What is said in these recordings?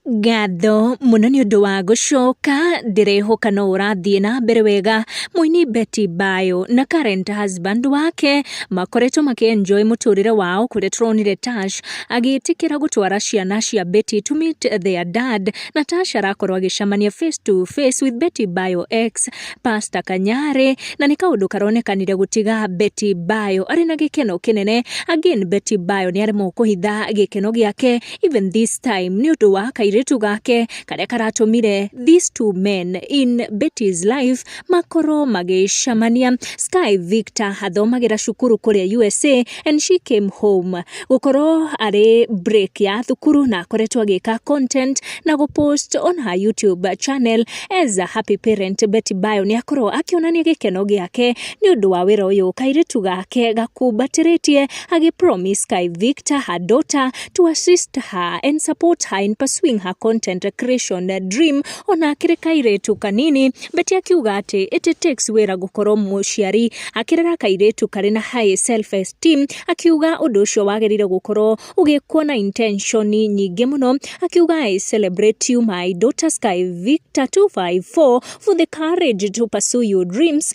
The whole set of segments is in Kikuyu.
Ngatho mũno nĩ ũndũ wa gũcoka, ndĩrehoka no ũrathiĩ na mbere wega. Mũini Betty Bayo na current husband wake makoretwo makĩ enjoy mũtũrĩre wao, kũrĩa tũronire Tash agĩtĩkĩra gũtwara ciana cia Betty to meet their dad, na Tash arakorwo agĩcemania face to face with Betty Bayo ex pastor Kanyarĩ, na nĩ kaũndũ karonekanire gũtiga Betty Bayo arĩ na gĩkeno kĩnene. Again Betty Bayo nĩ aremwo kũhitha gĩkeno gĩake. even this time nĩ ũndũ wa kairĩtu gake karĩa karatũmire these two men in Betty's life makorwo magĩcamania Sky Victor athomagĩra cukuru kũrĩa USA and she came home gũkorwo arĩ break ya thukuru na akoretwo agĩka content na gũpost on her YouTube channel as a happy parent Betty Bayo nĩ akorwo akĩonania gĩkeno gĩake nĩ ũndũ wa wĩra ũyũ kairĩtu gake gakumbatĩrĩtie agĩ promise Sky Victor her daughter to assist her and support her in pursuing her content creation dream ona akĩrĩ kairĩtu kanini beti akiuga atĩ it takes wĩra gũkorwo mũciari akĩrera kairĩtu karĩ na high self esteem akiuga ũndũ ũcio wagĩrĩire gũkorwo ũgĩkwo na intention nyingĩ mũno akiuga i celebrate you my daughter sky victor 254 for the courage to pursue your dreams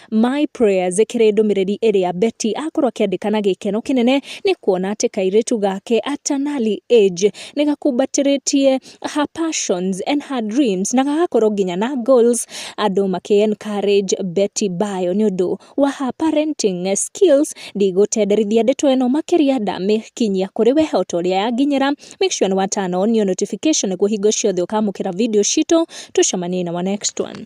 My Prayers ĩkĩrĩ ndũmĩrĩri ĩrĩa Betty akorwo akĩandĩka na gĩkeno kĩnene nĩ kuona atĩ kairĩtu gake Atanali Age nĩ gakumbatĩrĩtie her passions and her dreams na gagakorwo nginya na goals andũ makĩ encourage Betty Bayo nĩ ũndũ wa her parenting skills ndigũtenderithia ndeto ĩno makĩria ndamĩkinyia kũrĩ we o ta ũrĩa yanginyĩra make sure nĩ wa turn on your notification nĩguo hingo ciothe ũkamũkĩra video citũ tũcemanie in our next one